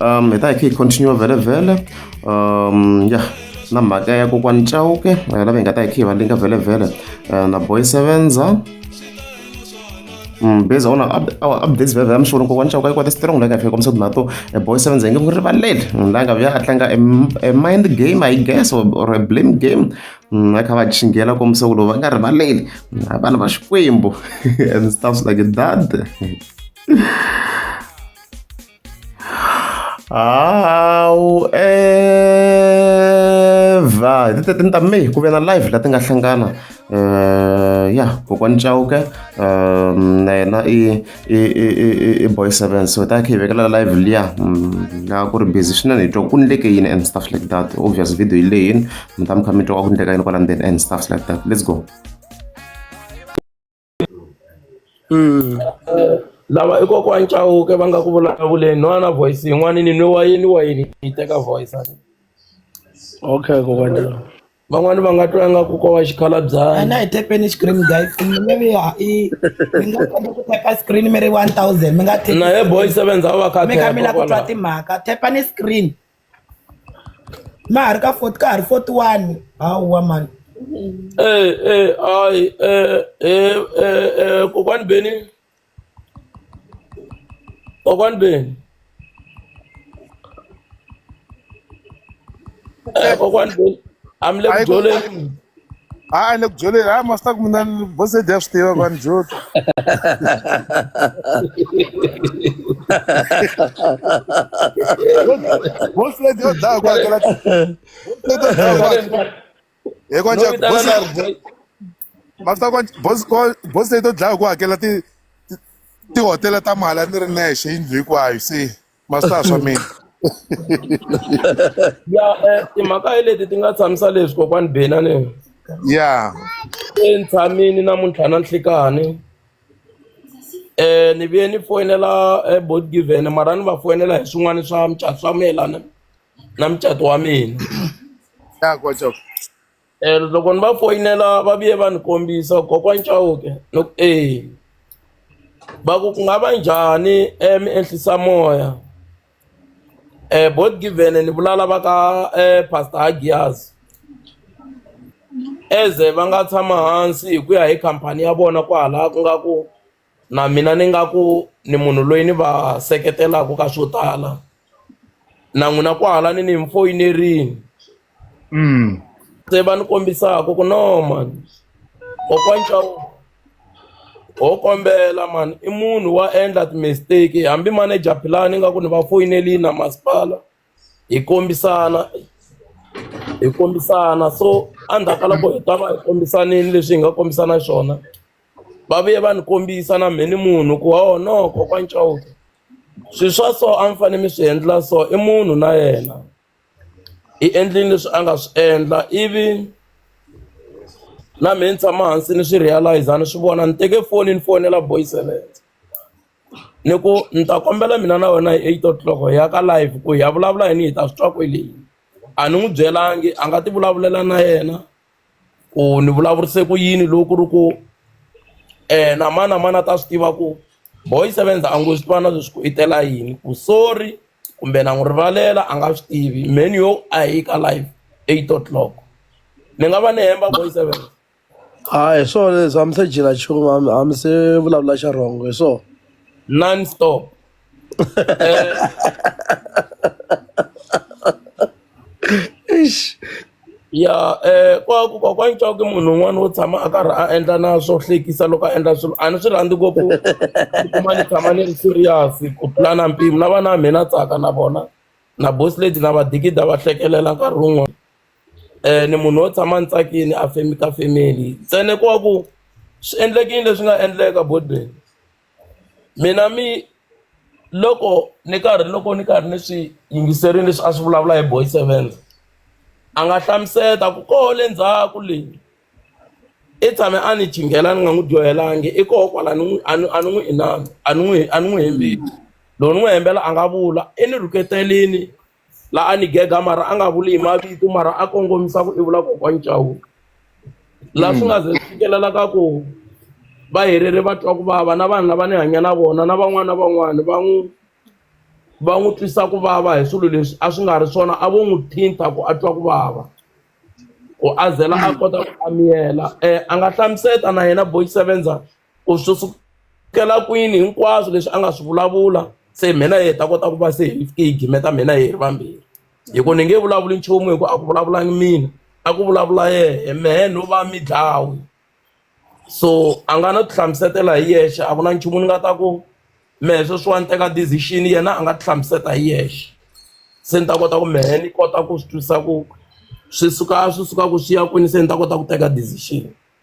um hi ta hi kha hi continue vhele vhele um ya na mhaka ya kokwani chauke eh, lava hi nga ta hi kha hi va linka vhele vhele eh, na boy sevenza Mm, based on our updates vhevhe amsholo kokwana xa ku ka yi kwata strong la nga fika komisa na to a boy sevenza nge ku rivaleli mm, la nga vya a tlanga a mind game i guess or, or a blame game mm, va kha va chingela komisa ku lowu va nga rivaleli a vana va xikwembu and stuffs like that However, hi ti thirteen ta May ku ve na live la ti nga hlangana uh, ya kokwani Chauke um, na yena i i i i i boy seven so hi ta kha hi vekela live liya mm, la ku ri busy swinene hi twa ku ndleke yini and stuff like that obvious video yi leyini mi ta mi kha mi twa ku ndleka yini kwala ndzeni and stuff like that let's go lava i kokwani Chauke va nga ku vulavuleni n'wana voice yin'wana ni nwe wa yini wa yini yi teka voice a okay kokwani van'wani va nga twa nga ku ko wa xikhalabyanyi na hi tepeni screen guy kumbe mi ya i mi nga kota ku tepa screen mi ri 1000 mi nga na ye boy seven za va kha mi kha mi la ku twa timhaka tepani screen ma ha ri ka ka ha ri forty one hawa mhani kokwani Benny kokwani Benny kokwani Benny a mi le ku dyoleni. hayi le ku byeleni hayi masita ku mina bosedi ya swi tiva ku ni jota bosedi yo dlaya ku hakela hi konca masita bosedi yo dlaya ku hakela ti tihotela ta mali a ni ri nexe yindlu hinkwayo se masasa mina ya eh, timhaka hi leti ti nga tshamisa leswi kokwani benani ya entshamini namuntlha na nhlikani um ni vuye ni foyinela eh, bot given mara ni va foyinela hi swin'wana swa mucato swa mayelana na mucato wa mina ya kwacaku Eh, loko ni va foyinela va vuye va ni kombisa kokwani Chauke no eh va ku ku nga va njhani eh mi ehlisa moya eh both given ni vulala va ka eh pastor Hagias eze va nga tshama hansi hi ku ya hi khampani ya vona kwahala ku nga ku na mina ni nga ku ni munhu loyi ni va seketelaka ka swo tala na n'wina kwahala ni ni mi foyinerile mm. se va ni kombisaka ku no mani kokwana Chauke ho kombela mani i munhu wa endla ti-mistake hambi manager philani ingaku ni va foyinelini na masipala hi kombisana hi kombisana so endzhaku ka loko hi ta va hi kombisanile leswi hi nga kombisana swona va vuye va ni kombisa na mhe ni munhu ku wa woho no kokwana Chauke swilo swa so a mi fanele mi swi endla so i munhu na yena i endlile leswi a nga swi endla ivi na mhe ni tshama hansi ni swi realize-a ni swi vona ni teke foni ni fonela boy seventy ni ku ni ta kombela mina na wena hi eight o'clock hi ya ka live ku hi ya vulavula yini hi ta swi twa kwele a ni n'wi byelangi a nga ti vulavulela na yena ku ni vulavurise ku yini loko ku ri ku na mani na mani a ta swi tiva ku boy seven a ngo swi vana leswi ku i tela yini ku sorry kumbe na n'wi rivalela a nga swi tivi mheni yo a hi ka live eight o'clock ni nga va ni hemba boy seven. A hi swona leswi a mi se dyela nchumu a mi- a mi se vulavula xa wrong hi swona non stop Eish. ya eh kwaku kwakwani cawuke munhu un'wana wo tshama a karhi a endla na swo hlekisa loko a endla swilo a ni swi rhandzi ngopfu kuma ni tshama ni ri serious ku tlula na mpimo na vana va mina tsaka na vona na boss lady na vadikida va hlekelela nkarhi wun'wana ni munhu wo tshama ni tsakini a ka family ntsena ko va ku swi endlekile leswi nga endleka mina mi loko ni karhi loko ni karhi ni swi yingiserile leswi a swi vulavula hi boy sevenze a nga hlamusela ku koho le ndzhaku le i tshame a ni chinghela ni nga n'wi dyohelangi i koho kwala ni n'wi a ni a ni n'wi inana a ni n'wi a ni n'wi hembeli lowu ni n'wi hembela a nga vula i ni rhuketelini la a ni gega mara a nga vuli hi mavito mara a kongomisa ku i vula kokwani chawuka laha swi nga ze swi fikelela ka ku va helele va twa ku vava na vanhu lava ni hanya na vona na van'wana na van'wana va n'wi va n'wi twisa ku vava hi swilo leswi a swi nga ri swona a vo n'wi thinta ku a twa ku vava ku a zela a kota ku amiyela um a nga hlamuseta na yena boy sevenza ku swi sukela kwini hinkwaswo leswi a nga swi vulavula se mina hi ta kota ku va se hi fike hi gimeta mina hi ri vambirhi hi ku ni nge vulavuli nchumu hi ku a ku vulavulangi mina a ku vulavula yehe mehe no va mi dlawi so a nga no ti hlamusetela hi yexe a ku na nchumu ni nga ta ku mehe sweswiwani teka decision yena a nga ti hlamuseta hi yexe se ni ta kota ku mehe ni kota ku swi twisisa ku swi suka swi suka ku swi ya kwini se ni ta kota ku teka decision.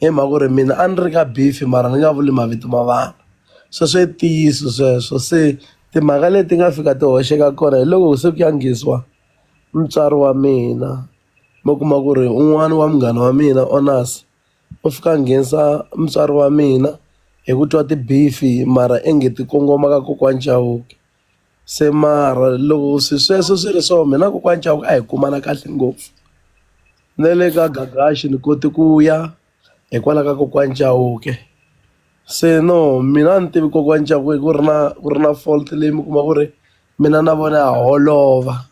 Hi mhaka ku ri mina a ni ri ka Biffy mara ni nga vuli mavito ma vanhu, sweswo i ntiyiso sweswo. Se timhaka leti nga fika ti hoxeka kona hi loko se ku ya ngheniswa mutswari wa mina, mi kuma ku ri un'wana wa munghana wa mina u fika a nghenisa mutswari wa mina hi ku twa ti-beef-i mara ingi ti kongoma ka kokwana Chauke. se mara loko swi sweswo swi ri so mina kokwani chavo a hi kumana kahle ngopfu na le ka Gagaxi ni kote ku ya hikwalaho ka kokwani Chauke se no mina a ni tivi kokwani Chauke ku ri na ku ri na fault leyi mi kuma ku ri mina na vona ha holova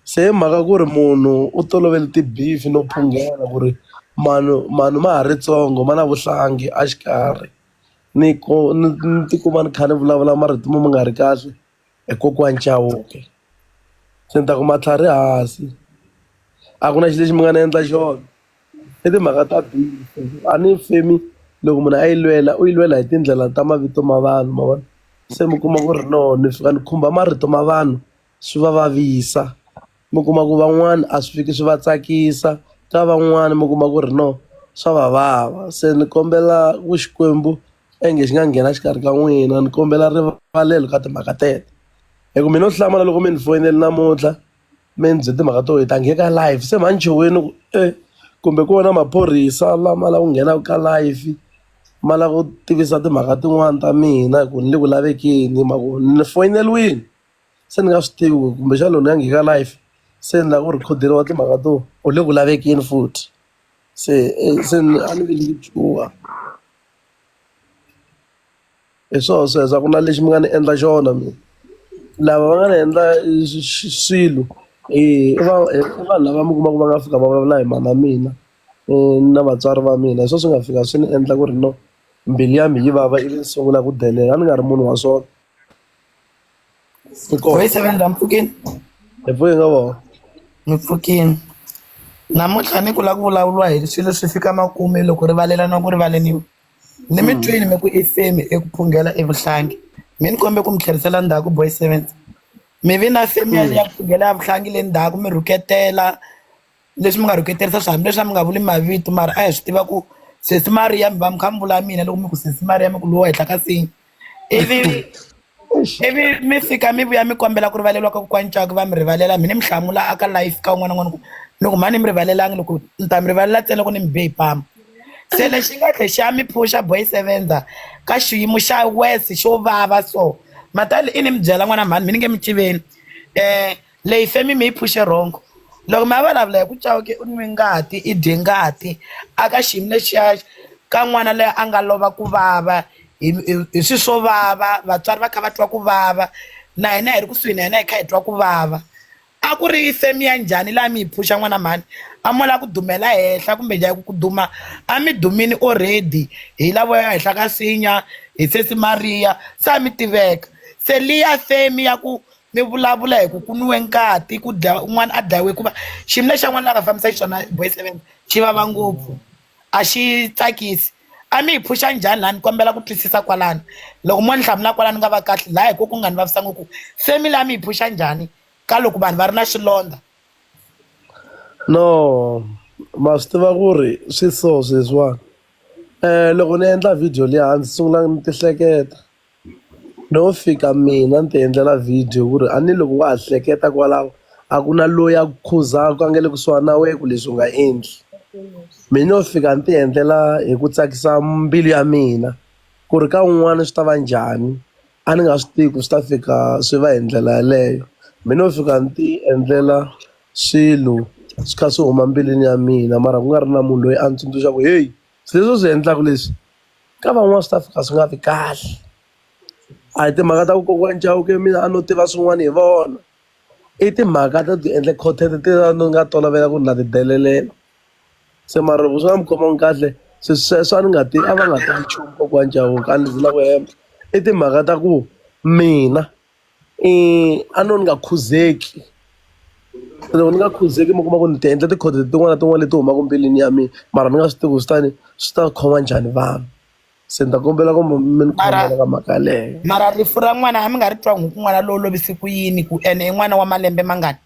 se hi mhaka ku ri munhu u tolovele ti-beef no phungela ku ri manu manu ma ha ri ntsongo ma na vuhlangi a xikarhi. ni ku ni ni ti kuma ni kha ni vulavula marito mo ma nga ri kahle hi kokwani Chauke se ni ta ku matlhari hansi a ku na xilo lexi mi nga ni endla xona i timhaka ta a ni femi loko munhu a yi lwela u yi lwela hi tindlela ta mavito ma vanhu ma vona se mi kuma ku ri no ni fika ni khumba marito ma vanhu. swi va vavisa mi kuma ku van'wani a swi fiki swi va tsakisa ka van'wani mi kuma ku ri no swa va vava se ni kombela ku Xikwembu onge xi nga nghena exikarhi ka n'wina ni kombela rivalelo ka timhaka teto hi ku mi no hlamala loko mi ni foyinela namuntlha mi ni byela timhaka to hi ta nghena ka live se manjhe wena ku e kumbe ku wona maphorisa lama lava ku nghenaka ka live ma lava ku tivisa timhaka tin'wani ta mina hi ku ni le ku lavekeni hi mavoni ni foyineliwini. se ni nga swi tivi ku kumbexana loko ni ya nghika life se ni lava ku rhikhodiwa timhaka to u le ku lavekeni futhi se se ni a ni ve ni chuha hi swona sweswo a ku na lexi mi nga ni endla xona mina lava va nga ni endla swilo i va i vanhu lava mi kumaka va nga fika va vulavula hi mhana mina na vatswari va mina hi swo swi nga fika swi ni endla ku ri no mbilu ya mi yi vava ivi ni sungula ku delela a ni nga ri munhu wa swona. Ficou. Oi, você vai dar um pouquinho? É por não, ó. Um pouquinho. namuntlha ni ku lava ku vulavuriwa hi swilo swi fika makume loko rivalelana ku rivaleniwa ni mi twini mi ku i femi eku phunghela evuhlangi mi ni kombe ku mi tlherisela ndzhaku boy seventy mi vi na femi ya ya phunghela ya vuhlangi le ndzhaku mi rhuketela leswi mi nga rhuketerisa swa hambileswi a mi nga vuli mavito mara a hi swi tiva ku sesi mariya mi va mi kha mi vula mina loko mi ku sesi mariya mi ku lowa henhla ka sini ivi ivi mi fika mi vuya mi kombela ku rivaleriwa ka kokwani caka va mi rivalela mina mi hlamula aka life ka un'wana n'wana ku ni ku mhani mi rivalelangi loko ni ta mi rivalela ntsena loko ni mi be hi pama se lexi nga tlhe xa mi phusha boy sevenza ka xiyimo xa wes xo vava so matali i ni mi byela n'wana mhani mi ni nge mi tiveni um Leyi femi mi yi phuxe wrong loko mi ya vulavula hi ku Chauke u nwi ngati i dye ngati a ka xiyimo lexiya ka n'wana loyi a nga lova ku vava hi hi swi swo vava vatswari va kha va twa ku vava na hina hi ri kusuhi na yena hi kha hi twa ku vava a ku ri femi ya njhani leyi a mi yi phuxa n'wana mhani a mo lava ku dumela henhla kumbe njhani hi ku ku duma a mi dumile already hi lavo ya henhla ka nsinya hi sesi Maria se a mi tiveka se liya femi ya ku mi vulavula hi ku ku nwiwe nkati ku dya un'wana a dlayiwe hikuva xiyimo lexi yan'wana la nga fambisa xiswona boy seven xi vava ngopfu a xi tsakisi a mi hi phuxa njhani laha ni kombela ku twisisa kwalano loko mo ni hlamula kwalano ni nga va kahle laha hi ko ku nga ni vavisa ngopfu family a mi hi phuxa njhani ka loko vanhu va ri na swilondza no ma swi tiva ku ri swi so sweswiwani um loko ni endla video leyi hansi sungula ni tihleketa No fika mina ni ti endlela video ku ri a ni loko wa ha hleketa kwalaho a ku na loyi a ku khuzaka a nga le kusuhani na wena ku leswi u nga endli mi no fika ni ti endlela hi ku tsakisa mbilu ya mina ku ri ka un'wana swi ta va njhani a ni nga swi tivi ku swi ta fika swi va hi ndlela yeleyo mi no fika ni ti endlela swilo swi kha swi huma mbilwini ya mina mara ku nga ri na munhu loyi a ni tsundzuxaka ku heyi. Sweswi u swi endlaka leswi ka van'wana swi ta fika swi nga vi kahle a hi timhaka ta ku kokwani Chauke mina a no tiva swin'wana hi vona i timhaka ta ti endle content ti ni nga tolovela ku ri na ti delelela se mara loko swi nga mi khomangi kahle se sweswo a ni nga ti a va nga tivi nchumu kokwani Chauke a ni zi na ku hemba i timhaka ta ku mina. a no ni nga khuzeki loko ni nga khuzeki mi kuma ku ni ti endla tikhoto tin'wana na tin'wana leti humaka mbilwini ya mina mara ni nga swi tivi ku swi ta ni swi ta khoma njhani vanhu se ni ta kombela ku mi mi ni khomela ka mhaka yaleyo mara rifu ra n'wana a mi nga ri twa n'wi ku n'wana lowo lovise ku yini ku ene i n'wana wa malembe mangani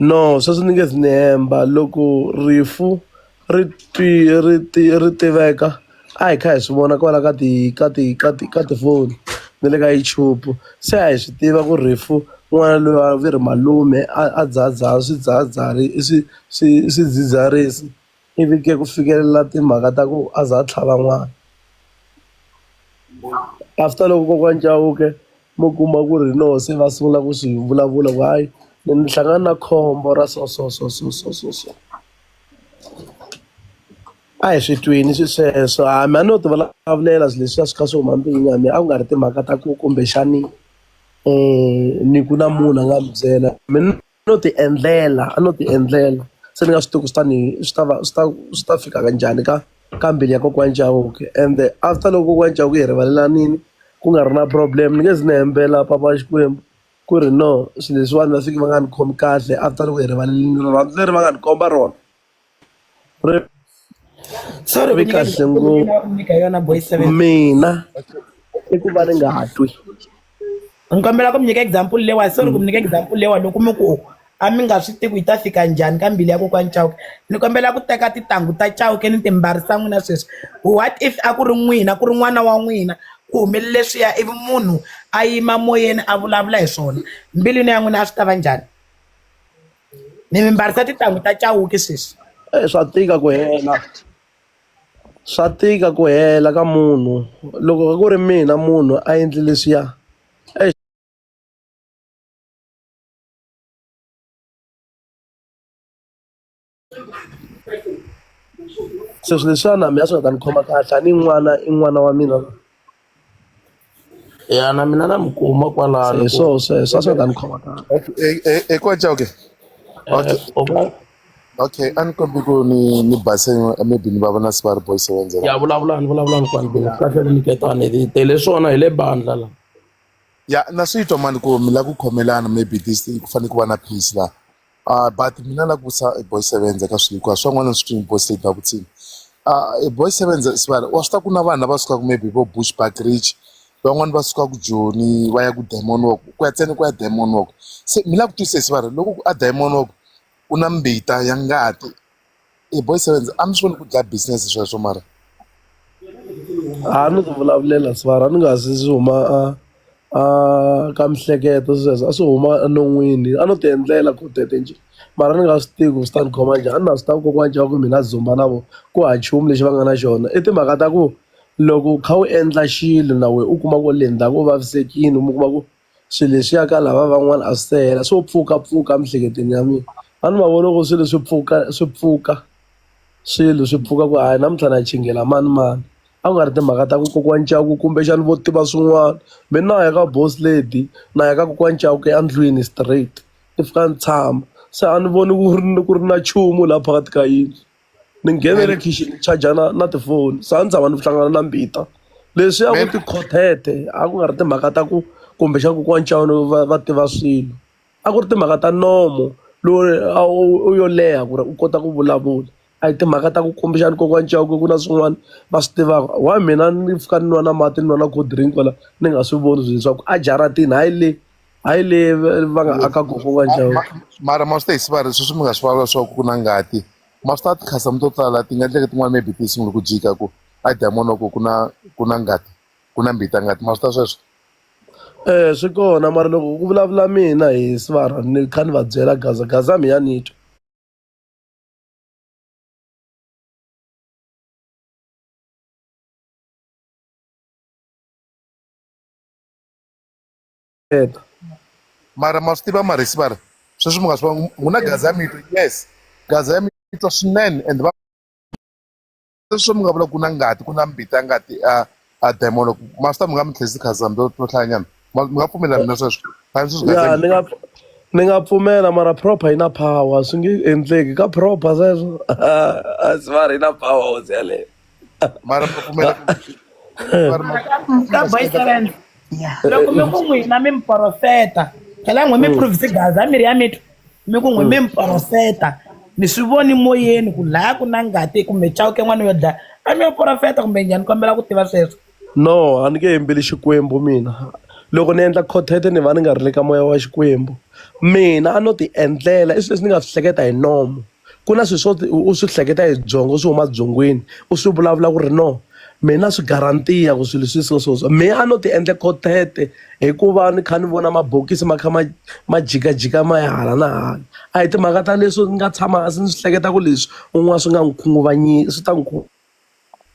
No, sweswi ni nge zi ni hemba loko rifu ri twi ri ti ri tiveka a hi kha hi swi vona kwala ka ti ka ti ka ti ka tifoni na le ka YouTube se a hi swi tiva ku rifu n'wana loyi a va ri malume a a dzaha dzaha swidzahadzahani swi swi swidzidziharisi. Ivi ke ku fikelela timhaka ta ku a za a tlhava n'wana. After loko kokwani Chauke mo kuma ku ri hi loho se va sungula ku swi vulavula ku hayi ni ni hlangane na khombo ra so so so so so so so. A hi swi twini swi sweswo a hambi a no ti vulavulela swilo leswiya swi kha swi huma ndlwini ya mina a ku nga ri timhaka ta ku kumbexani ni ku na munhu a nga ni byela . No ti endlela a no ti endlela se ni nga swi tivi ku swi ta ni swi ta va swi ta swi ta fika ka njhani ka ka mbilu ya kokwana Chauke ende after loko kokwana Chauke hi rivalelanini ku nga ri na problem ni nge zi ni hembela papa Xikwembu ku ri no swi leswiwani va fiki va nga ni khomi kahle after loko hi rivalelini rirhandzu leri va nga ni komba rona. ri so ri vi kahle ngopfu yona boy seven mina i ku va ri nga twi ni kombela ku mi nyika example lewa sorry ku mi nyika example lewa loko mi ku a mi nga swi tivi yi ta fika njhani ka mbili ya kokwani chauke ni kombela ku teka tintangu ta chauke ni timbarisa n'wina sweswi what if a ku ri n'wina ku ri n'wana wa n'wina ku humelele swiya ivi munhu a yima moyeni a vulavula hi swona mbilwini ya n'wina a swi ta va njhani ni mi mbarisa tintangu ta cawuki sweswi e swa tika ku hela swa tika ku hela ka munhu loko ku ri mina munhu a endli leswiya sweswi leswiya na mina swi nga ta ni khoma kahle a ni n'wana i n'wana wa mina ya na mina na mi kuma kwalano hi swo sweswo a swi nga ta ni khoma kahle hikwalaho ke okay a ni kombi ku ni ni base maybe ni va vona se va ri boy seven zero ya vulavulani vulavulani kwani bela kahle ni nyiketani hi tele swona hi le bandla la ya na swi twa mani ku mi lava ku khomelana maybe this thing ku fanele ku va na peace laha Uh, but mina la kusa e boy seven ka swilo hikuva swin'wana swi twini boy state babutsini uh, ah, e boy seven sivana wa swi ta ku na vanhu lava sukaka maybe vo bush backridge van'wani va suka ku joni va ya ku diamond walk ku ya tseni ku ya diamond walk se mi la ku twisisa va ri loko a diamond walk ku na mbita ya ngati e boy sevenz a mi swi voni ku dlaya business sweswo mara a ni ku vulavulela swara ni nga zi swi huma a a ka mihleketo sweswo a swi huma enon'wini a no ti endlela ku tete nje mara ni nga swi tivi ku swi ta ni khoma njhani a ni na swi tiva kokwana cava ku mina dzumba na vo ku ha chumu lexi va nga na xona i timhaka ta ku loko u kha u endla xilo na wehe u kuma ku le ndzhaku u vavisekile mi kuma ku. swilo leswiya ka lava van'wana a swi se hela swo pfukapfuka emiehleketweni ya mina a ni ma vona ku swilo swi pfuka swi pfuka swilo swi pfuka ku hayi namuntlha na chingela manimani a ku nga ri timhaka ta ku kokwani Chauke kumbexana vo tiva swin'wana me na ya ka boss lady na ya ka kokwani Chauke endlwini straight ni fika ni tshama se a ni voni ku ri ku ri na nchumu laha phakathi ka yindlu. ni nghene le khixini ni charger na na tifoni se a ni tshama ni hlangana na mbita leswi a ku ti khothete a ku nga ri timhaka ta ku kumbexana kokwani Chauke va va tiva swilo a ku ri timhaka ta nomo lowu a wu u yo leha ku ri u kota ku vulavula a hi timhaka ta ku kumbexana kokwani Chauke ku na swin'wana va swi tivaka why mina ni pfuka ni nwa na mati ni nwa na cold drink kwala ni nga swi voni leswaku a jaratini hayi le. hayi le va nga aka gogo wa njhawu mara ma swi ta hi sivari sweswi mi nga swi vulavula swa ku ku na ngati ma swi ta tikhasam to tala ti nga endleke tin'wana maybe ti sungule ku jika ku a diamond wa ku ku na ku na ngati ku na mbita ngati ma swi ta sweswo eh swi kona mara loko ku vulavula mina hi sivara ni kha ni va byela gaza gaza mi ya ni twa Edo. mara ma swi tiva marisi va ri sweswi mi nga swi vanga ku na gaza ya mito yes gaza ya mito swinene and va sweswi mi nga vula ku na ngati ku na mbita ngati a a demon loko ma swi ta mi nga mi tlhesi khaza mi to hlayanyana mi nga pfumelelani na sweswo khazi sweswi gaza ya ni nga ni nga pfumela mara proper yi na power swi nge endleki ka proper sweswo a swi va ri na power hosi yaleyo mara mi pfumela ka boy seven loko mi ku n'wina mi mi porofeta phela n'we mi provise gaza miri ya mitwa mi ku n'we mi mi porofeta mi swi voni moyeni ku laya ku na ngati kumbe chawuke n'wana yo dlaya a mi yo porofeta kumbe njhani kombela ku tiva sweswo No a ni nge yimbeli Xikwembu mina loko ni endla quartet ni va ni nga ri le ka moya wa Xikwembu mina a no ti endlela i swilo leswi ni nga swi hleketa hi nomu ku na swilo swo u swi hleketa hi byongo swi huma byongweni u swi vulavula ku ri no me na swi guaranteer ku swilo swi so so so me a no ti endla quartet hikuva ni kha ni vona mabokisi ma kha ma ma jikajika ma ya hala na hala a hi timhaka ta leswo ni nga tshama hansi ni swi hleketa ku leswi un'wana swi nga n'wi khunguvanyisa swi ta n'wi .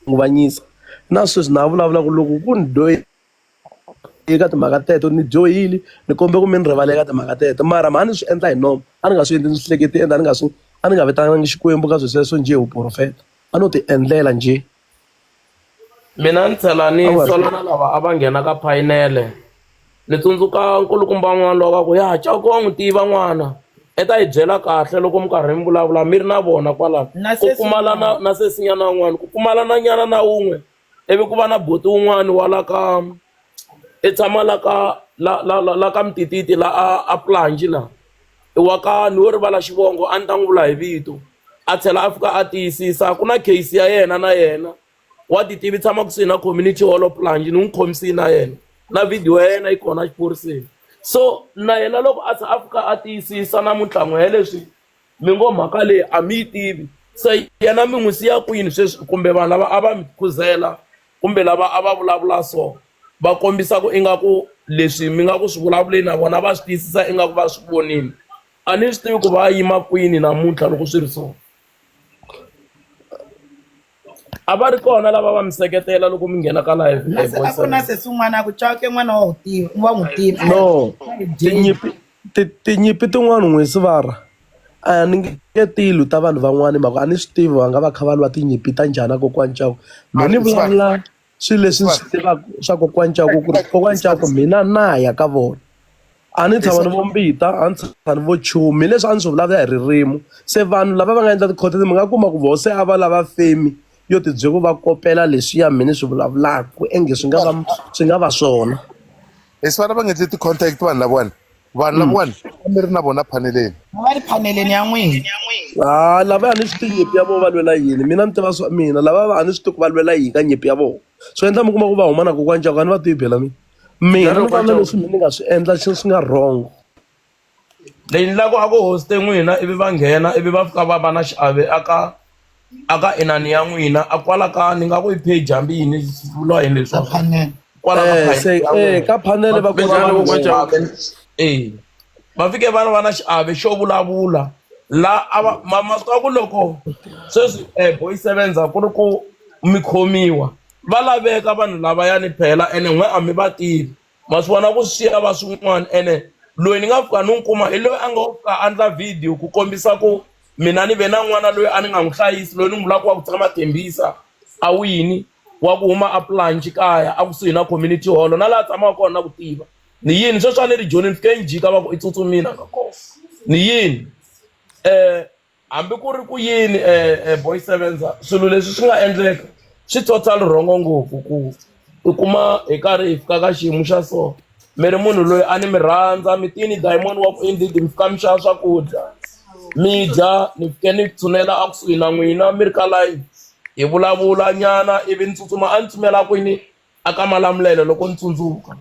khunguvanyisa na sweswi na ha vulavula ku loko ku ni dyohi eka timhaka teto ni dyohile ni kombe ku mi ni rivala eka timhaka teto mara mhani swi endla hi nomu a ni nga swi endli ni swi hleketi ende a ni nga swi a ni nga vitanangi xikwembu ka swi sweswo njhe wu profeta a no ti endlela njhe mina ni tlhela ni sola na lava a va nghena ka phayinele Ni tsundzuka nkulukumba wun'wana loyi a va ku ya Chauke wa n'wi tiva n'wana i ta yi byela kahle loko mi karhi mi vulavula mi ri na vona kwalano ku pfumala na na sesinyana wun'wana ku pfumala na nyana na wun'we ivi ku va na buti wun'wani wa la ka i tshama la ka la la la la ka mitititi la a a Planji la i wa ka ni wo rivala xivongo a ni ta n'wi vula hi vito a tlhela a fika a tiyisisa ku na case ya yena na yena. wa ti tivi tshama kusuhi na community hall of plange ni n'wi khomisini na yena na video ya yena yi kona exiphoriseni so na yena loko a a fika a tiyisisa na mintlhango ya leswi mi ngo mhaka leyi a mi yi tivi se yena mi n'wi siya kwini sweswi kumbe vanhu lava a va mi khuzela kumbe lava a va vulavula so va kombisa ku ingaku leswi mi nga ku swi vulavuleni na vona va swi tiyisisa ingaku va swi vonile a ni swi tivi ku va yima kwini namuntlha loko swi ri so a va ri kona lava va mi seketela loko mi nghena ka live live a ku na sesi un'wana a ku cawuke n'wana wa wu tiva wa n'wi tiva no tinyimpi ti- tinyimpi tin'wana n'wi sivara a ni nge tilu ta vanhu van'wana hi mhaka a ni swi tivi va nga va kha va lwa tinyimpi ta njhani a kokwana cawu me ni vulavula swilo leswi ndzi swi tivaka swa kokwani Cako ku ri kokwani Cako mina na ya ka vona a ni tshama ni vo mbita a ni tshama ni vo chumi leswi a ni swi vulavula hi ririmi se vanhu lava va nga endla tikhoto mi nga kuma ku voho se a va lava femi yo tibyela ku va kopela leswiya mi ni swi vulavulaka ku enge swi nga va swi nga va swona leswi vana va nga endli ti-contact vanhu lavawani vanhu lavawani a mi ri na vona phaneleni a va ri phaneleni ya n'wina ha lava a ni swi tivi nyimpi ya vona va lwela yini mina ni tiva swa mina lava va a ni swi tivi ku va lwela yini ka nyimpi ya vona swi endla mi kuma ku va huma na kokwana ncaku a ni va tivi bela mina mina ni vona leswi mi ni nga swi endla xi swi nga wrong leyi ni lava ku a ku hoste n'wina ivi va nghena ivi va fika va va na xiave aka a ka inani ya n'wina a kwala ka ni nga ku i page hambi yini vula yini leswaku kwala ka Eh, se- panel ya eh, ka panel va Kumbe kota njhani ku- kokwana Chauke? Eh, va fike vana va na xiave xo vulavula la a va ma- masiku ya ku loko sweswi um boy sevens a ku ri ku mi khomiwa va laveka vanhu lavayani phela ene n'we a mi va tivi ma swi vona ku swi va swin'wana ene loyi ni nga fika ni n'wi kuma hi loyi a ngo ka a endla video ku kombisa ku mina ni ve na n'wana loyi a ni nga n'wi hlayisi loyi ni n'wi vulaka wa ku tshama Tembisa a wini wa ku huma a Planch kaya a kusuhi na community hall na laha tshamaka kona na ku tiva ni yini sweswi a ni ri joni ni fike ni jika va ku i tsutsumile a nga kona ni yini . Hambi ku ri ku yini, Boy Sevenza, swilo leswi swi nga endleka swi total wrong ngopfu ku i kuma hi karhi hi fika ka xiyimo xa so mi ri munhu loyi a ni mi rhandza mi te ni diamond wa ku i ndzi mi fika mi xava swakudya mi dya ni fike ni tshunela a kusuhi na n'wina mi ri ka layeni hi vulavula nyana ivi ni tsutsuma a ni tsutsumela kwini. a ka malamulelo loko ni tsundzuka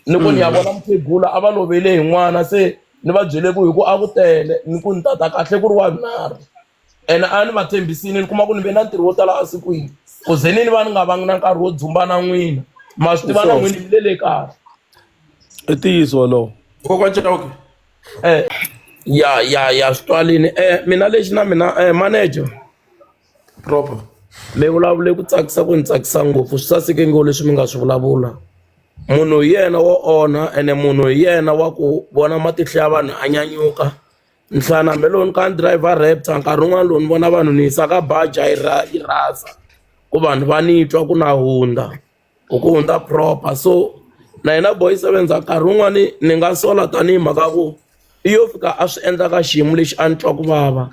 ni ku ni ya vona mukhegula a va lovele hi n'wana se ni va byele ku hi ku a ku tele ni ku ni tata kahle ku ri wa vunharhu ene a ni va tshembisile ni kuma ku ni ve na ntirho wo tala a sikwini ku ze ni ni va ni nga vangi na nkarhi wo dzumba na n'wina ma swi tiva na Sure. n'wini mi le le kaya i ntiyiso wolowo kokwa chauke eh ya ya ya swi twalini eh mina lexi na mina eh manager proper mi vulavule ku tsakisa ku ni tsakisa ngopfu swi saseke ngo leswi mi nga swi vulavula munhu hi yena wo onha ene munhu hi yena wa ku vona matihlo ya vanhu a nyanyuka nhlana hambi loko ni ka ni driver rapta nkarhi wun'wana lowu ni vona vanhu ni yisaka baja yi ra yi rasa ku vanhu va ni twa ku na hundza. u ku hundza proper so na hina boy sevenza nkarhi wun'wani ni nga sola tanihi mhaka ku i yo fika a swi endla ka xiyimo lexi a ni twa ku vava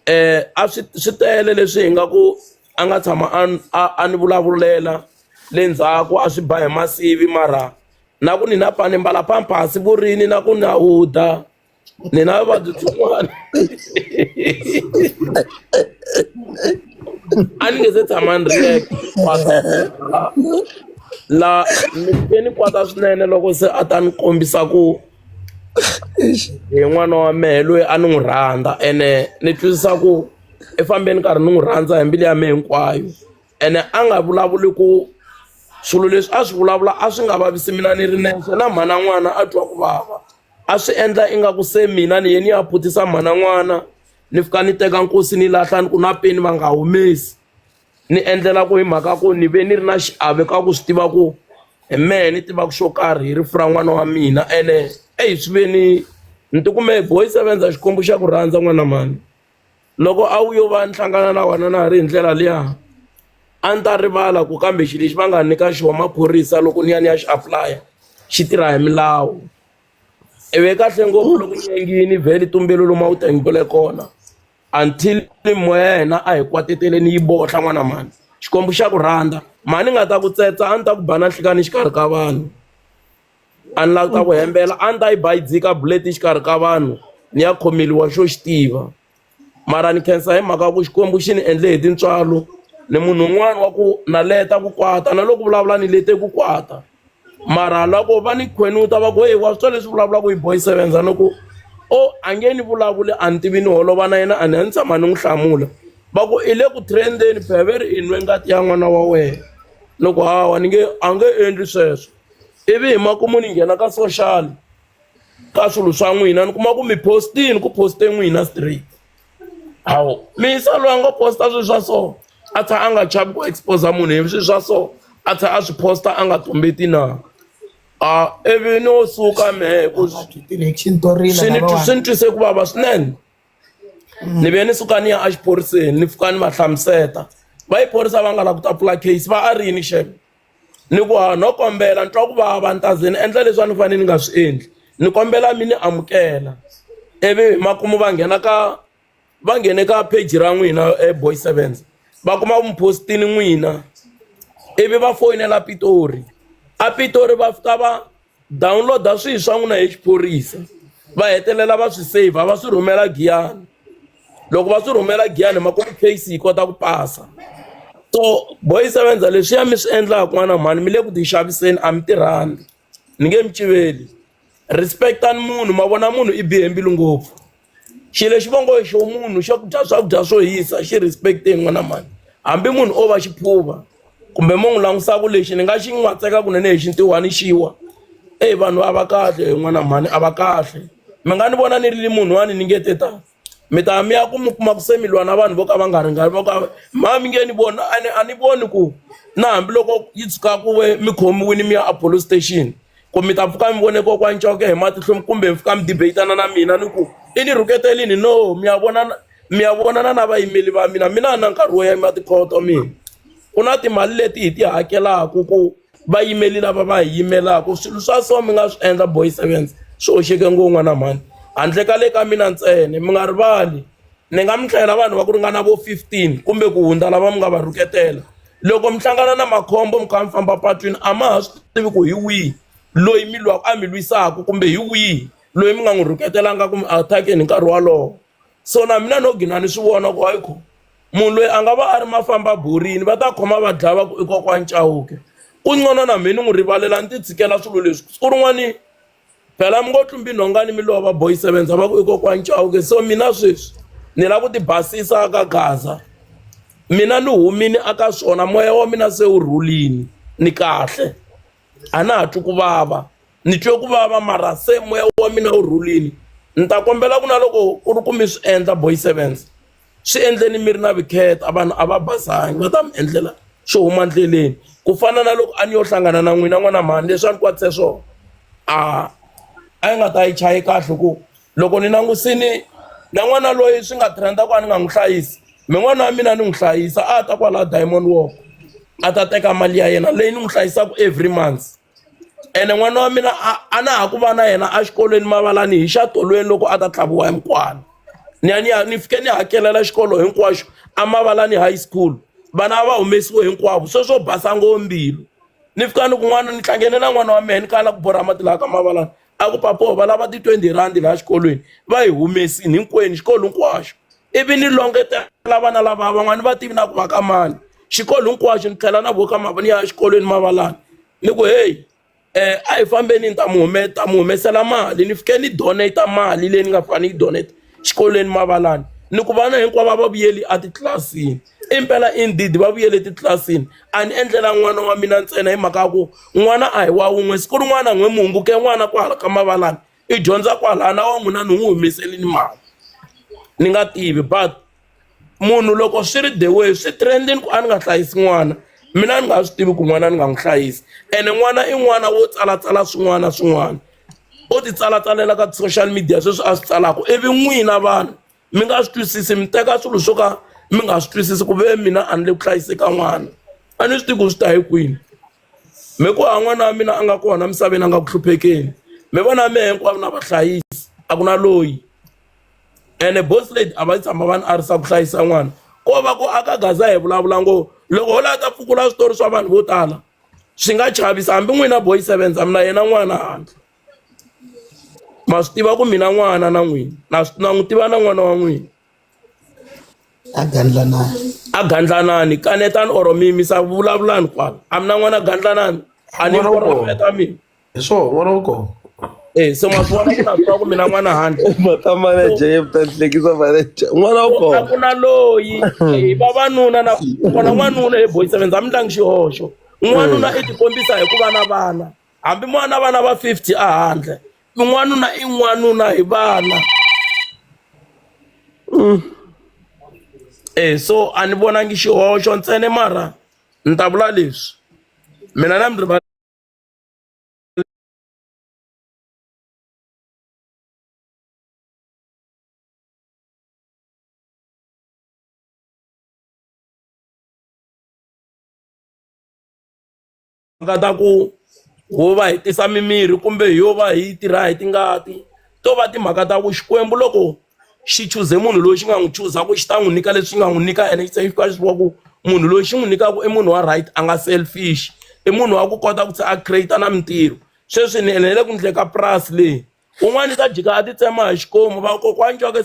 um a swi swi tele leswi hi nga ku a nga tshama a a ni vulavulela le ndzhaku a swi ba hi masivi mara na ku ni na pani mbala pampasi vurini na ku na huda ni na vuvabyi byin'wana a ni nge se tshama ni ri yexe kwata la ni ke ni kwata swinene loko se a ta ni kombisa ku hi n'wana wa mehe loyi a ni n'wi rhandza ene ni twisisa ku i fambeni karhi ni n'wi rhandza hi mbilu ya mehe hinkwayo ene a nga vulavuli ku swilo leswi a swi vulavula a swi nga vavisi mina ni ri nexe na mhana n'wana a twa ku vava a swi endla ingaku se mina ni ye ni ya putisa mhana n'wana ni fika ni teka nkosi ni lahla ni ku na peni va nga humesi ni endlela ku hi mhaka ku ni ve ni ri na xiave ka ku swi tiva ku hi mehe ni tivaka xo karhi hi rifu ra n'wana wa mina ene eyi swi ve ni ni ti kume boy sevenza xikwembu xa ku rhandza n'wana mhani. loko a wu yo va ni hlangana na wena na ha ri hi ndlela liya a ni ta rivala ku kambe xilo lexi va nga nyika xona maphorisa loko ni ya ni ya xi apulaya xi tirha hi milawu ivi kahle ngopfu loko nyangini vhele tumbelo lomu a wu tengele kona until moya ya hina a hi kwatetele ni yi bohla n'wana mhani xikwembu xa ku rhandza mhani nga ta ku tsetsa a ni ta ku ba na nhlikani xikarhi ka vanhu a ni lavi ta ku hembela a ni ta yi ba yi dzika bullet exikarhi ka vanhu ni ya khomeliwa xo xi tiva mara ni khensa hi mhaka ku xikwembu xi ni endle hi tintswalo ni munhu un'wana wa ku na leta ku kwata na loko vulavula ni lete ku kwata mara loko va ni khwenuta va ku heyi wa swi twa leswi vulavulaka hi boy seven za ni ku o a nge ni vulavuli a ni tivi ni holova na yena a ni a ni tshama ni n'wi hlamula va ku i le ku trendeni beveri i nwe ngati ya n'wana wa wena loko hawa ni nge a nge endli sweswo ivi hi makumu ni nghena ka social ka swilo swa n'wina ni kuma ku mi postini ku poste n'wina straight hawu misa loyi a ngo posta swilo swa so a tsha a nga chavi ku expose munhu hi swilo swa so a tsha a swi posta a nga tumbeti na a ivi no suka mehe ku swi ni twise ku vava swinene ni ve ni suka ni ya exiphoriseni ni fika ni va hlamuseta va yi phorisa va nga lavi ku ta pfula case va a ri yini xeme ni ku ha no kombela ni twa ku vava ni ta ze ni endla leswi a ni fanele ni nga swi endli ni kombela mi ni amukela ivi hi makumu va nghena ka va nghene ka page ra n'wina boy sevens va kuma ku mi post-ini n'wina ivi va foyinela Pitori a Pitori va fika va download-a swihi swa n'wina hi xiphorisa va hetelela va swi save va swi rhumela giyani loko va swi rhumela giyani hi makumu case yi kota ku pasa so boy sevenza leswiya mi swi endlaka n'wana mhani mi le ku tixaviseni a mi tirhandi ni nge mi civeli respectani munhu ma vona munhu i bihe mbilu ngopfu xilo lexi va ngo xo munhu xo dya swakudya swo hisa xi respect hi n'wana mani hambi munhu o va xiphuva kumbe mo n'wi langusaku lexi ni nga xi n'watseka kunene hi xintiwani xiwa eyi vanhu a va kahle hi n'wana mhani a va kahle mi nga ni vona ni ri munhu wani ni nge te tani mi ta mi ya ku mi kuma ku se mi lwa na vanhu vo ka va nga ringani vo ka mha mi nge ni vona a ni a ni voni ku na hambiloko yi tshuka ku ve mi khomiwini mi ya a police station ku mi ta pfuka mi vone kokwana Coke hi matihlo kumbe mi fika mi debate-ana na mina ni ku i ni rhuketelini no mi ya vonana mi ya vonana na vayimeri va mina mina a na nkarhi wo yima tikhoto mina ku na timali leti hi ti hakelaka ku vayimeri lava va hi yimelaka swilo swa so mi nga swi endla boy sevens swi hoxeke ngo n'wana mhani handle ka le ka mina ntsena mi nga rivali ni nga mi hlayela vanhu va ku ringana vo 15 kumbe ku hundza lava mi nga va rhuketela loko mi hlangana na makhombo mi kha mi famba patwini a ma ha swi tivi ku hi wihi loyi mi lwaka a mi lwisaka kumbe hi wihi loyi mi nga n'wi rhuketelanga kumbe a attackeni hi nkarhi wolowo so na mina no gina ni swi vona ku ayikho munhu loyi a nga va a ri mafamba borini va ta khoma va dlaya va ku i kokwani cawuke ku ncono na mina ni n'wi rivalela ni ti tshikela swilo leswi siku rin'wani Phela mi ngo tlumbi nhongani mi lova boy sevenza va ku i kokwani Chauke so mina sweswi ni lava ku ti basisa ka gaza mina ni humini aka swona moya wa mina se wu rhulini ni kahle a na ha twi ku vava ni twe ku vava mara se moya wa mina wu rhulini ni ta kombela ku na loko ku ri ku mi swi endla boy sevenza. swi endleni mi ri na vukheta a vanhu a va basanga va ta mi endlela swo huma endleleni ku fana na loko a ni yo hlangana na n'wina n'wana mhani leswi a ni kwatise swona a a yi nga ta yi chayi kahle ku loko ni langusini na n'wana loyi swi nga trend ku a ni nga n'wi hlayisi mi n'wana wa mina ni n'wi hlayisa a ta kwala diamond walk a ta teka mali ya yena leyi ni n'wi hlayisaka every months. ene n'wana wa mina a a na ha ku va na yena exikolweni mavalani hi xa tolweni loko a ta tlhaviwa hi mukwana ni ya ni ya ni fike ni hakelela xikolo hinkwaxo emavalani high school vana va humesiwe hinkwavo swe swo basa ngoo mbilu ni fika ni kun'wana ni hlangene na n'wana wa mehe ni kala ku borha mati laha ka mavalani a ku papo va lava ti-twenty rhandi laha xikolweni va yi humesini hinkwenu xikolo hinkwaxo ivi ni longetela vana lava van'wani va tivi na ku va ka mani xikolo hinkwaxo ni tlhela na voka mava ni ya exikolweni mavalana ni ku heyi um a hi fambeni ni ta mi hume ta mi humesela mali ni fike ni donate mali leyi ni nga fane ni yi donate xikolweni mavalana ni ku vana hinkwavo va vuyeli etitlilasini. I mpela indeed va vuyela etitlilasini a ni endlela n'wana wa mina ntsena hi mhaka ya ku n'wana a hi wa wun'we siku rin'wana a ni n'wi mi hunguke n'wana kwala ka mavalani i dyondza kwalaya na wa n'wina ni n'wi humesele ni mali ni nga tivi but munhu loko swi ri the way swi trend-ini ku a ni nga hlayisi n'wana mina a ni nga swi tivi ku n'wana ni nga n'wi hlayisi ene n'wana i n'wana wo tsalatsala swin'wana na swin'wana o ti tsalatsalela ka ti-social media sweswi a swi tsalaka ivi n'wina vanhu. mi nga swi twisisi mi teka swilo swo ka mi nga swi twisisi ku ve mina a ni le ku hlayiseka n'wana a ni swi tivi ku swi ta hi kwini mi ku ha n'wana wa mina a nga kona misaveni a nga ku hluphekeni mi vona mi hinkwavo na vahlayisi a ku na loyi ene boss lady a va tshama va ni arisa ku hlayisa n'wana ko va ku aka gaza hi vulavula ngo loko ho lava ta pfukula switori swa vanhu vo tala swi nga chavisa hambi n'wina boy seven za mina yena n'wana handle ma swi tiva ku mina n'wana na n'wina na na n'wi tiva na n'wana wa n'wina a gandlanani a gandlanani kanetani or mi misa vulavulani kwala a mi na n'wana gandlanani a ni N'wana wa kona. vona ta mina hi swona n'wana wa kona eh se ma swi vona ku na swi tiva ku mina n'wana handle mata manager ye ta hlekisa manager n'wana wa a kona ku na loyi hi vavanuna na kona n'wanuna hi boyisa venza a mi tlangi xihoxo n'wanuna i tikombisa hi ku va na vana hambi mo va na vana va 50 ehandle i n'wanuna i n'wanuna hi vana mm. e so a ni vonangi xihoxo ntsene mara ni ta vula leswi mina na mi riva timhaka ta ku ho va hi tisa mimirhi kumbe hi yo va hi tirha hi tingati to va timhaka ta ku xikwembu loko xi chuze munhu loyi xi nga n'wi chuza ku xi ta n'wi nyika leswi nga n'wi nyika ene xi tsaka xi wa ku munhu loyi xi n'wi nyikaka i munhu wa right a nga selfish i munhu wa ku kota ku se a create na mintirho sweswi ni ene le ku ndleka purasi leyi un'wana i ta jika a ti tsema hi xikomu vakokwani jake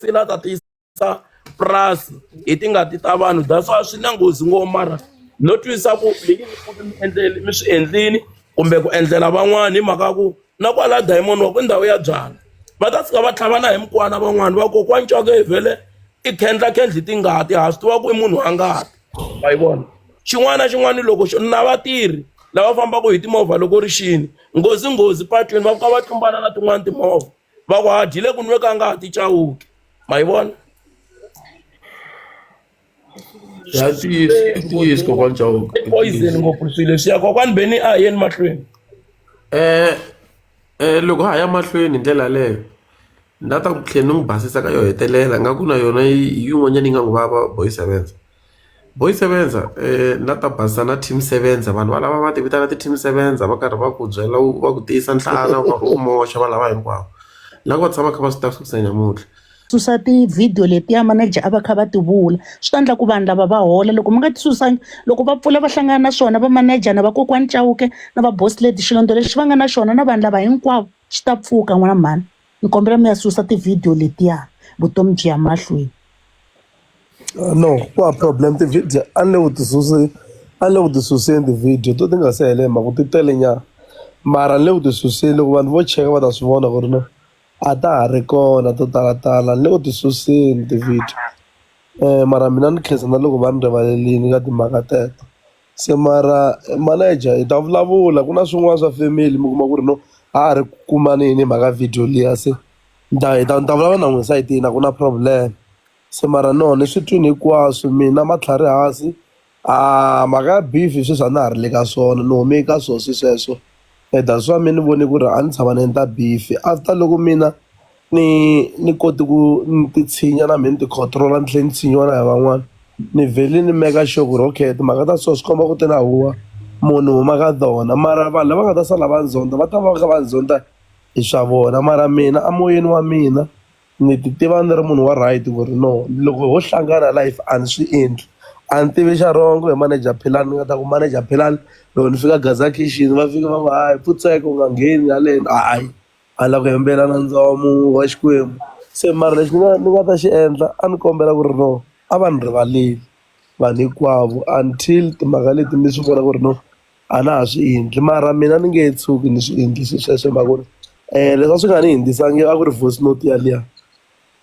sila ta tisa purasi hi tingati ta vanhu that's why swi na nghozi ngopfu mara no twisisa ku leyi mi endleli mi swi endlini kumbe ku endlela van'wana hi mhaka ku na kwala diamond wa ku ndhawu ya byala va ta fika va tlhavana hi mikwana van'wana va kokwani cwaka hi vhele i khendla khendli tingati ha swi tiva ku i munhu wa ngati wa yi vona xin'wana na xin'wana loko na vatirhi lava fambaka hi timovha loko ri xini nghozi nghozi patwini va fika va tlumbana na tin'wana timovha va ku ha dyile ku nwe ka nga ha ti cawuki ma yi vona ya ntiyiso i ntiyiso kokwana chauka i poison ngopfu swilo leswiya kokwani beni a hi yeni mahlweni um um loko ha ya mahlweni hi ndlela yaleyo ni la ta ku tlhela ni n'wi basisa ka yo hetelela nga ku na yona yi- yin'wanyana yi nga n'wi vava boy sevenza Boy Sebenza na ta basa na team Sebenza vanhu valava va ti vitana ti team Sebenza va karhi va ku byela u va ku tiyisa nhlana u karhi u moxa va lava hinkwavo lava va tshama kha va swi ta fikisa nyamuntlha susa ti-video letiya manager a va kha va ti vula swi ta endla ku vanhu lava va hola loko mi nga ti susangi loko va pfula va hlangana na swona va manager na vakokwani Chauke na va boss lady xilondza lexi va nga na xona na vanhu lava hinkwavo xi ta pfuka n'wana mhani. Ni kombela mi ya susa ti-video letiya vutomi byi ya mahlweni. No ku hava problem ti-video a ni le ku ti susi a ni le ku ti suseni ti-video to ti nga se hela hi mhaka ku ti tele nyana mara ni le ku ti suseni loko vanhu vo cheka va ta swi vona ku ri no a ta ha ri kona to talatala ni le ku ti suseni ti-video mara mina ni khensa na loko va ni rivalerile ka timhaka teto. Se mara manager hi ta vulavula ku na swin'wana swa family mi kuma ku ri no a ha ri ku kumaneni hi mhaka video liya se ni ta hi ta ni ta vulavula na n'wina esayitini a ku na problem se mara no ni swi twini hinkwaswo mina matlhari hansi mhaka ya beef sweswi a na ha ri le ka swona ni hume ka swo se sweswo. and that's why me ni vone ku ri a ni tshama ni endla beef-i after loko mina ni ni kote ku ni ti tshinya na me ni ti control-a ni tlhe ni tshinyiwa na hi van'wana ni vhele ni meka sure ku ri okay timhaka ta so swi komba ku ti na huwa munhu huma ka tona mara vanhu lava nga ta sala va ni zonda va ta va kha va ni zonda hi swa vona mara mina a moyeni wa mina Ni ti tiva ni ri munhu wa right ku ri no loko ho hlangana life a ni swi endli a ni tivi xa wrong hi manager Philani ni nga ta ku manager Philani loko ni fika Gaza khixini va fika va ku hayi pfutseka u nga ngheni haleni hayi a ni la ku hembela nandza wa mu wa Xikwembu se mara lexi ni nga ni nga ta xi endla a ni kombela ku ri no a va ni rivaleli vanhu hinkwavo until timhaka leti ni swi vona ku ri no a na ha swi endli mara mina ni nge tshuki ni swi endlise sweswo hi mhaka ku ri um leswi a swi nga ni hundzisanga a ku ri voice note yaliya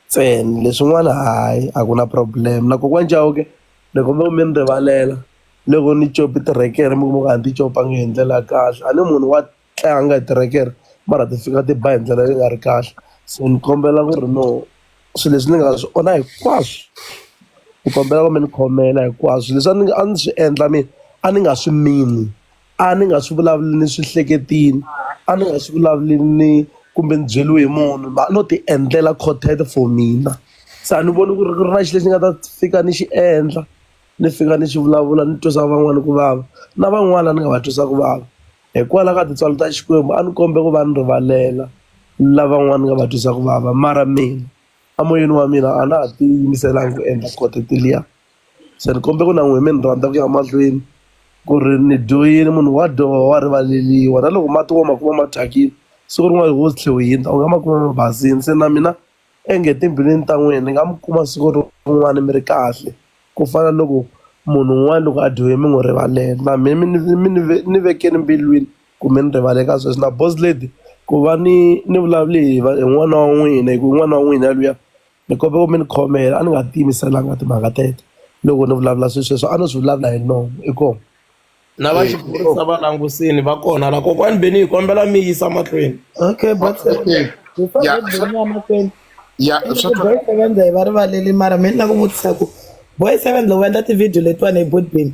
ntsena leswin'wana hayi a ku na problem na kokwana Chauke ni kombela ku mi ni rivalela loko ni cope tirekere mi kuma ku a ni ti copanga hi ndlela ya kahle a ni munhu wa. tlanga hi tirekere mara ti fika ti ba hi ndlela leyi nga ri kahle so ni kombela ku ri no swilo leswi ni nga swi onha hinkwaswo ni kombela ku mi ni khomela hinkwaswo leswi a ni a ni swi endla mina a ni nga swi mini a ni nga swi vulavuli ni swi hleketile a ni nga swi vulavuli ni kumbe ni byeriwe hi munhu mhani no ti endlela content for mina se a ni voni ku ri ku ri na xilo lexi ni nga ta fika ni xi endla ni fika ni xi vulavula ni twisa van'wana ku vava na van'wana ni nga va twisa ku vava. Hikwalaho ka tintswalo ta Xikwembu a ni kombe ku va ni rivalela lavan'wana ni nga va twisaka vava mara mina emoyeni wa mina a na ha ti yimiselanga ku endla quote liya se ni kombe ku na n'wina mi ni rhandza ku ya mahlweni ku ri ni dyo yini munhu wa dyoha wa rivaleriwa na loko mati wo ma kuma ma thyakile siku rin'wana wo tlhe u hundza u nga ma kuma ma basile se na mina Onge timbilwini ta n'wina ni nga mi kuma siku rin'wana mi ri kahle, ku fana loko munhu un'wana loko a dyohe mi n'wi rivalela. Na mina mi ni mi ni ni vekele mbilwini ku mi ni rivale ka sweswi. Na boss lady, ku va ni ni vulavule hi hi n'wana wa n'wina hikuva i n'wana wa n'wina luya, ni kombela mi ni khomela. A ni nga ti yimiselanga timhaka teto, loko ni vulavula swilo sweswo a no swi vulavula hi nomu. Inkomu. na va Eh, xiphorisa va langusini va kona la kokwani beni hi kombela mi yisa mahlweni okay but eh, eh, before ya that swa- beni ya mahlweni ya Ende swa ku boy seven hi va rivaleli mara mi ni la ku vutisa ku boy seven loko va endla tivhidiyo letiwani hi bot beni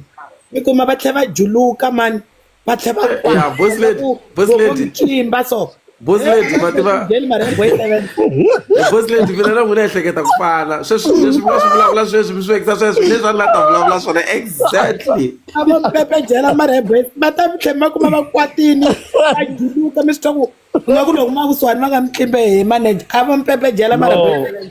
mi kuma va tlhe va juluka mani va tlhe va ya boss lady boss lady tlimba so boss lady ma tiva Byeli marembo yi tele. boss lady mina na n'wina ehleketa ku fana sweswi leswi mina swi vulavula sweswi mi swi vekisa sweswi leswi a ni la ta vulavula swona exactly A vo pepe byela marembo yi- va ta mi tlhe ma kuma va kwatini va juluka mi swi twa ku nga ku loko ma kusuhani va nga mi tlimbe hi manager a vo mi pepe byela marembo yi No. tele.